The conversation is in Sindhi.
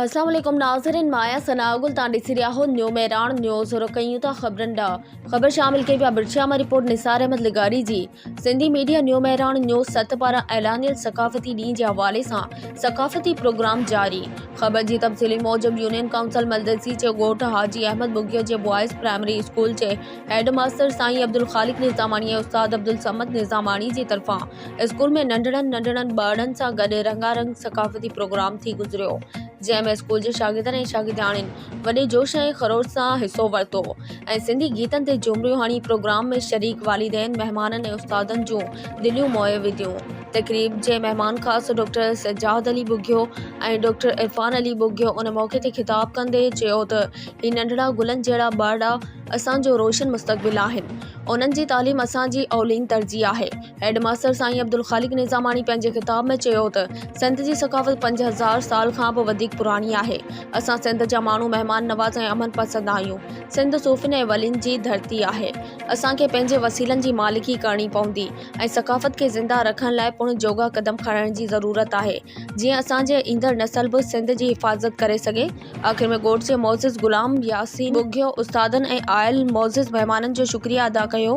السلام عليڪم ناظرين مان آهيان ثناء گل تان ڏسي رهيا آهو نيو مهراڻ نيوز رخ ڪيون ٿا خبرن ڏانهن خبر شامل ڪئي پيا برڇيا مان رپورٽ نثار احمد لغاري جي Sindhi media new Mehran news ست پاران اعلانيل ثقافتي ڏينهن جي حوالي سان ثقافتي پروگرام جاري خبر جي تفصيلي موجب يونين ڪائونسل ملدسي جي ڳوٺ حاجي احمد ٻگهيو جي بوائز پرائمري اسڪول جي هيڊ ماستر سائين عبدالخالق نظاماڻي ۽ استاد عبدالصمد نظاماڻي جي طرفان اسڪول ۾ ننڍڙن ننڍڙن ٻارڙن سان گڏ رنگا رنگ ثقافتي پروگرام ٿي گذريو جنهن ۾ اسڪول جي شاگردن ۽ شاگردياڻين وڏي جوش ۽ خروش سان حصو ورتو ۽ سنڌي گيتن تي جهومريون هڻي پروگرام ۾ شريڪ والدين مهمانن ۽ استادن جون دليون موهي وڌيون تقريب جي مهمان خاص ڊاڪٽر سجاد علي ٻگهيو ۽ ڊاڪٽر عرفان علي ٻگهيو ان موقعي تي خطاب ڪندي چيو ته هي ننڍڙا گلن جهڙا ٻارڙا اسان جو روشن مستقبل آهن انهن جي تعليم اسان جي اولين ترجيح آهي هيڊ ماستر سائين عبدالخالق نظاماڻي پنهنجي خطاب ۾ چيو ته سنڌ جي ثقافت پنج هزار سال کان به وڌيڪ پراڻي آهي اسان سنڌ جا ماڻهو مهمان نواز ۽ امن پسند آهيون سنڌ صوفين ۽ ولين جي ڌرتي آهي اسان کي پنهنجي وسيلن جي مالڪي ڪرڻي پوندي ۽ ثقافت کي زنده رکڻ لاء پڻ جوڳا قدم کڻڻ جي ضرورت آهي جيئن اسان جي ايندڙ نسل به سنڌ جي حفاظت ڪري سگهي آخر ۾ گوڊسي معزز غلام ياسين ٻگهيو استادن ۽ آيل معزز مهمانن جو شڪريا ادا ڪيو.